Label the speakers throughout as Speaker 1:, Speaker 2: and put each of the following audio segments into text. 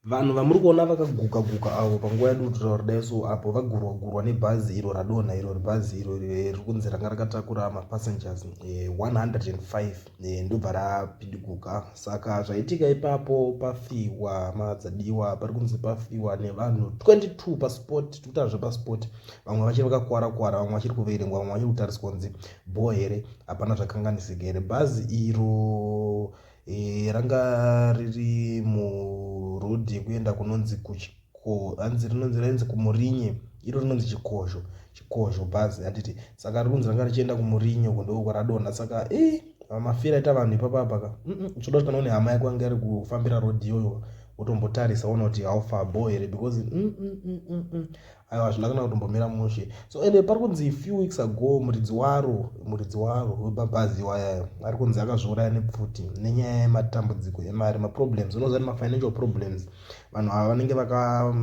Speaker 1: vanhu vamuri kuona vakaguka guka avo panguva yadi kutaura kudai so apo vagurwa gurwa nebhazi iro radonha iro ribhazi iro riri kunzi ranga rakatakura mapassengers 105 eh, eh, ndobva rapidiguka saka zvaitika ipapo pafiwa madzadiwa pari kunzi pafiwa nevanhu 22 paspot tikutaa zvepaspot vamwe vachiri vakakwara kwara vamwe vachiri kuverengwa vamwe vachiri kutariswa kunzi bho here hapana zvakanganisika here bhazi iro e, ranga riri muroad yekuenda kunonzi kuchiko anzi rinonzi rainzi kumurinye iro rinonzi chikozho chikozho bhazi handiti saka rikunzi ranga richienda kumurinye uko ndouko radonha saka e mafira aita vanhu ipapapaka uchoda kuti kana une hama yako ange ari kufambira road iyoyo wotombotarisa ona kuti haufa bo here because mm, mm, mm, mm, mm. aiwa hazvina kana kutombomira mushe so ende pari kunzi few weeks ago muridzi waro muridzi waro wemabhazi iwaya ari kunzi akazviuraya nepfuti nenyaya yematambudziko emari maproblems unoziva ni mafinancial problems vanhu ava vanenge vaka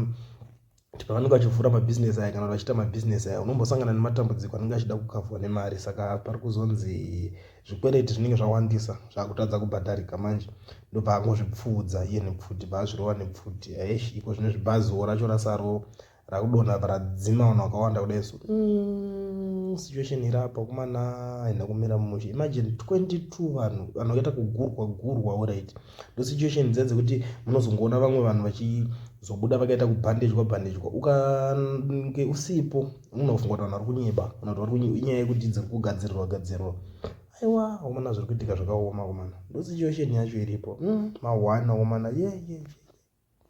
Speaker 1: pavanenge vachivhura mabhizinesi aya kana kuti vachiita mabhizinesi aya unombosangana nematambudziko anenge achida kukavhwa nemari saka pari kuzonzi zvikwereti zvinenge zvawandisa zvakutadza kubhadharika manje ndobva angozvipfuudza iye nepfuti baazvirova nepfuti aesh iko zvine zvibaziwo racho rasaro rakudonha radzima vanhu vakawanda kudai so mm, situation iri apa kumana haina kumira mumusha imagine 22 vanhu vanhu vakaita kugurwa gurwa orit ndo situation dziya dzekuti munozongoona vamwe vanhu vachizobuda vakaita kubhandejwa bhandejwa ukange usipo unofunga kuti vanhu vari kunyeba kana kuti vari kunyeba inyaya yekuti dziri kugadzirirwa gadzirirwa aiwa omana zviri kuitika zvakaoma omana ndosituation yacho iripo mm, mahwana omana ye yeah, ye yeah, yeah.